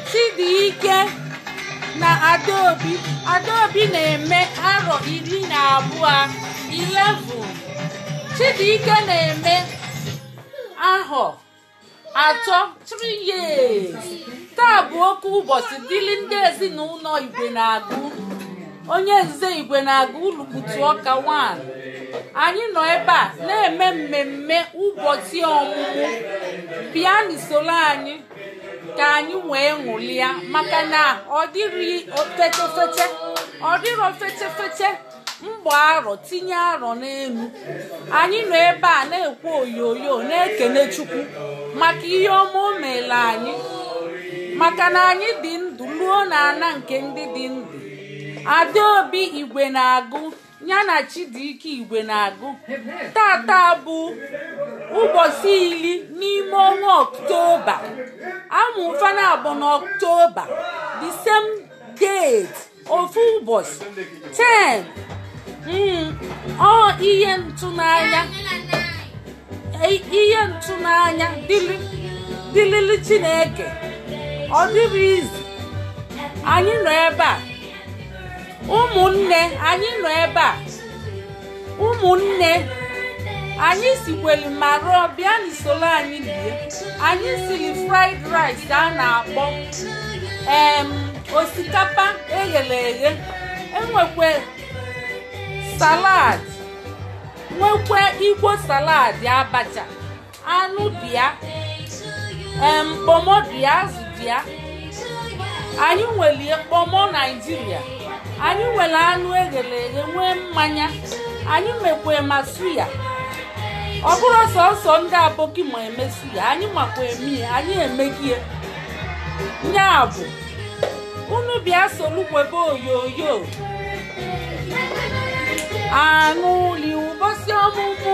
Chidike na Adaobi Adaobi na-eme arọ iri na abụọ 11 Chidike na-eme ahọ atọ 3 years taa bụ oke ụbọchị dịrị ndị ezinụlọ Igwenagụ onye nze Igwenagụ Ulukutu Ọka 1 anyị nọ ebe a na-eme mmemme ụbọchị ọmụmụ bịanị soro anyị ka anyị wee ṅụlịa maka na ọ dịrọ fetefete ọ dịrọ fetefete mgba arọ tinye arọ n'elu anyị nọ ebe a na-ekwe oyoyo na-ekene chukwu maka ihe ọma o meere anyị maka na anyị dị ndụ ruo na ana nke ndị dị ndụ Adaobi Igwenagụ ya na Chidike Igwenagụ tata bụ ụbọsị iri n'ime ọnwa ọktoba a mụ fa naabọ na ọktoba the same date ofu ụbọsị 10 mm, ọ ihe ntụnanya i- ihe ntụnanya dịrị dịrịrị Chineke ọ dịrọ easy anyị nọ ebe a ụmụnne anyị nọ ebe a ụmụnne anyị sikweli ma rụọ bịanị soro anyị lie anyị siri fried rice a na-akpọ em osikapa eghere eghe e nwekwe salad nwekwe igbo salad abacha anụ dị ya mkpọmọ dị ya azụ dị ya anyị nwere mkpọmọ naijiria anyị nwere anụ eghere eghe nwee mmanya anyị mekwa ma suya ọ bụrọ sọsọ ndị aboki ma eme suya anyị makwa eme ya anyị emegie nya bụ unu bịa solu kwebe oyoyo aṅụlị ụbọsị ọmụmụ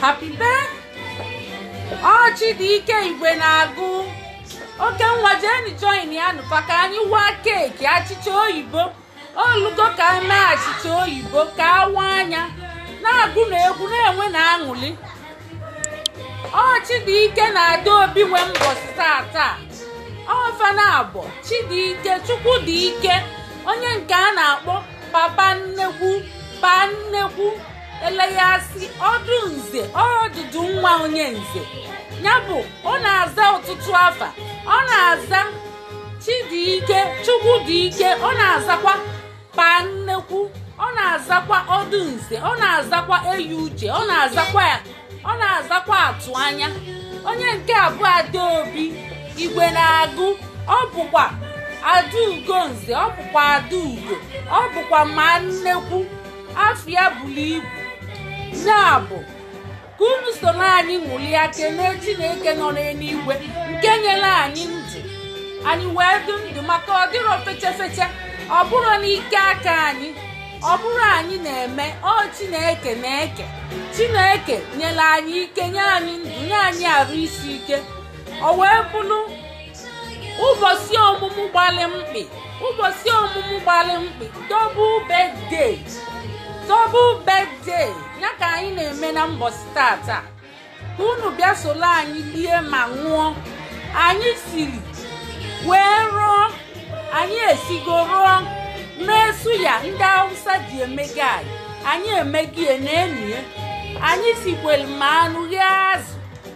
Happy birthday! Ọ Chidike Igwenagụ oke nwa jeni join ya nụ fa ka anyị waa keeki achịcha oyibo o lugo ka anyị mee achịcha oyibo ka awa anya na-agụnụ egwu na-enwenụ aṅụlị ọ Chidike na Adaobi nwe mbọsị taa taa ọ fa naabọ Chidike Chukwu dị ike onye nke a na-akpọ papa nnekwu paa nnekwu eleghị asị ọdụ nze ọdụdụ nwa onye nze ya bụ ọ na-aza ọtụtụ afa ọ na-aza chidike chukwudike ọ na-azakwa pa nnekwu ọ na-azakwa ọdụ nze ọ na-azakwa eyi uche ọ na-azakwa atụ anya onye nke abụọ adaobi igwenagụ ọ bụkwa adaugo nze ọ bụkwa adaugo ọ bụkwa ma nnekwu afa ya buru ibu ya bụ ka unu soro anyị ṅụlịa kene chineke nọ n'eluigwe nke nyere anyị ndụ anyị wee dụ ndụ maka ọ dịrọ fechefeche ọ bụrọ n'ike aka anyị ọ bụrọ anyị na-eme ọ chineke na-eke chineke nyere anyị ike nye anyị ndụ nye anyị arụ isi ike o wee bụrụ ụbọsị ọmụmụ gbalị mkpị ụbọsị ọmụmụ gbalị mkpị double birthday double birthday ya ka anyị na-eme na mbọsị taataa ka unu bịa soro anyị lie ma ṅụọ anyị siri wee rụọ anyị esigo rụọ mee suya ndị awụsa ji emega anyị anyị emegie na enyi ya anyị sikwelu ma anụ ghee azụ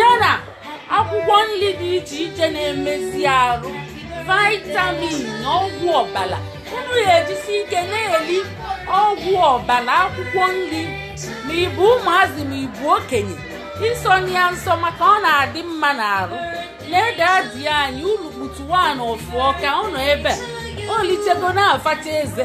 yana akwụkwọ nri dị iche iche na-emezi arụ vitamin na ọgwụ ọbara unu ga-ejisi ike na-eli ọgwụ ọbara akwụkwọ nri ma ị bụ ụmụazị ma ị bụ okenye asọna ya nsọ maka ọ na-adị mma n'arụ nee dadi anyị unu kputuwa na ọfụọ ka ọ nọ ebe o lichego na-afacha eze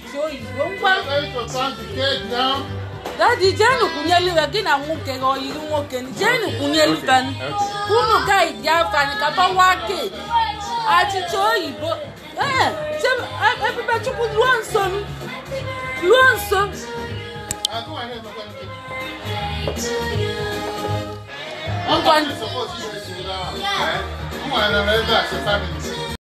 dadi jenu kwunyelu ya gị na nwoke gị oyiri nwoke jenu kwunyelu ben unu gaid ya fani ka a bawa kek achịcha oyibo ee ebubechukwu ruo nso m ruo nso ngwa